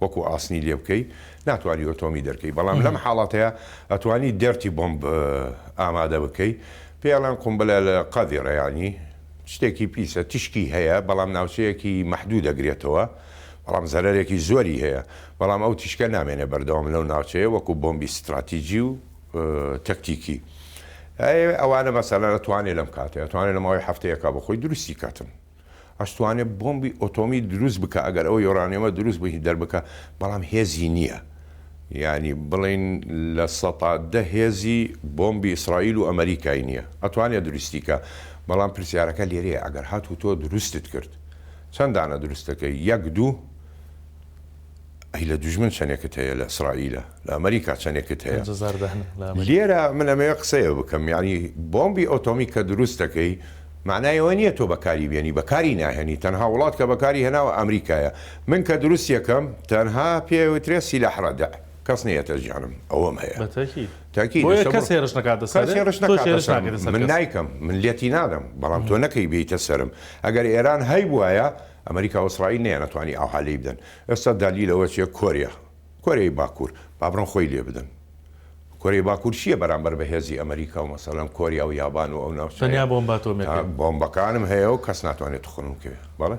وەکو ئاسنی لێ بکەی ناتوانی ئۆتۆمی دەرکەی بەڵام لەم حاڵەتەیە ئەتوانی دێرتی بۆمب ئامادە بکەی پێڵێن قومبلە لە قەڤی ڕێیانی شتێکی پیسە تیشکی هەیە بەڵام ناوچەیەکی مەحدوو دەگرێتەوە بەڵام زەرەرێکی زۆری هەیە بەڵام ئەو تیشکە نامێنێ بەردەوام لەو ناوچەیە وەکو بۆمبی ستراتیجی و تەکتیکی ئەوانە مەسەلەنە توانێ لەم کاتێ توانێت لە ماوەی هەفتەیەکە بۆ خۆی دروستی کاتن. ئەتوانێ بۆمبی ئۆتۆمی دروست بکا ئەگەر ئەو یۆرانیۆمە دروست بهی دەربکا بەڵام هێزی نیە یانی بڵین لە سەتا دە هێزی بۆمبی ئیسرائیل و ئەمەریکای نیە ئەتوانێ دروستی کا بەڵام پرسیارەکە لێرەیە ئەگەر هاتوو تۆ دروستت کرد چەند دانە دروست دەکەی یەک دوو ئەی لە دوژمن چەنێکت هەیە لە ئیسرائیلە لە ئەمەریکا چەنێکت هەیە پەنج هەزار دەهن لە ئەمەریکا. لێرە من ئەمەوێ قسەیە بکەم یانی بۆمبی ئۆتۆمی کە دروست دەکەی مەعنای ئەوە نیە تۆ بەکاری بێنی بەکاری ناهێنی تەنها وڵات کە بەکاری هێناوە ئەمریکایە من کە دروستی ئەکەم تەنها پێ ئەوترێ سیلاح ڕەدع کەس نەیەتە ژیانم ئەوەم هەیە بە تەکید تەکید بۆیە لەسە کەس بڕۆ هێرش نەکاتە کەس سەرت هێرش تۆش نەکاتە هێرش سەرم ناکەیتە سەر من کەس نایکەم من لێتی نادەم بەڵام تۆ نەکەی بێیتە سەرم ئەگەر ئێران هەیبوایە ئەمەریکا و ئیسرائیل نەیانەتوانی ئاوها لێی بدەن ئێستا دالیل ئەوە چیە کۆریا کۆریای باکور با بڕۆن خۆی لێ بدەن کۆریای باکور چیە بەرامبەر بە هێزی ئەمریکا و مەسەلەن کۆریا و یابان و ئەو ناوچانە تەنیا بۆمباتۆمیەکەی بۆمبەکانم هەیە و کەس ناتوانێت تخنم کەوێ بەڵێ.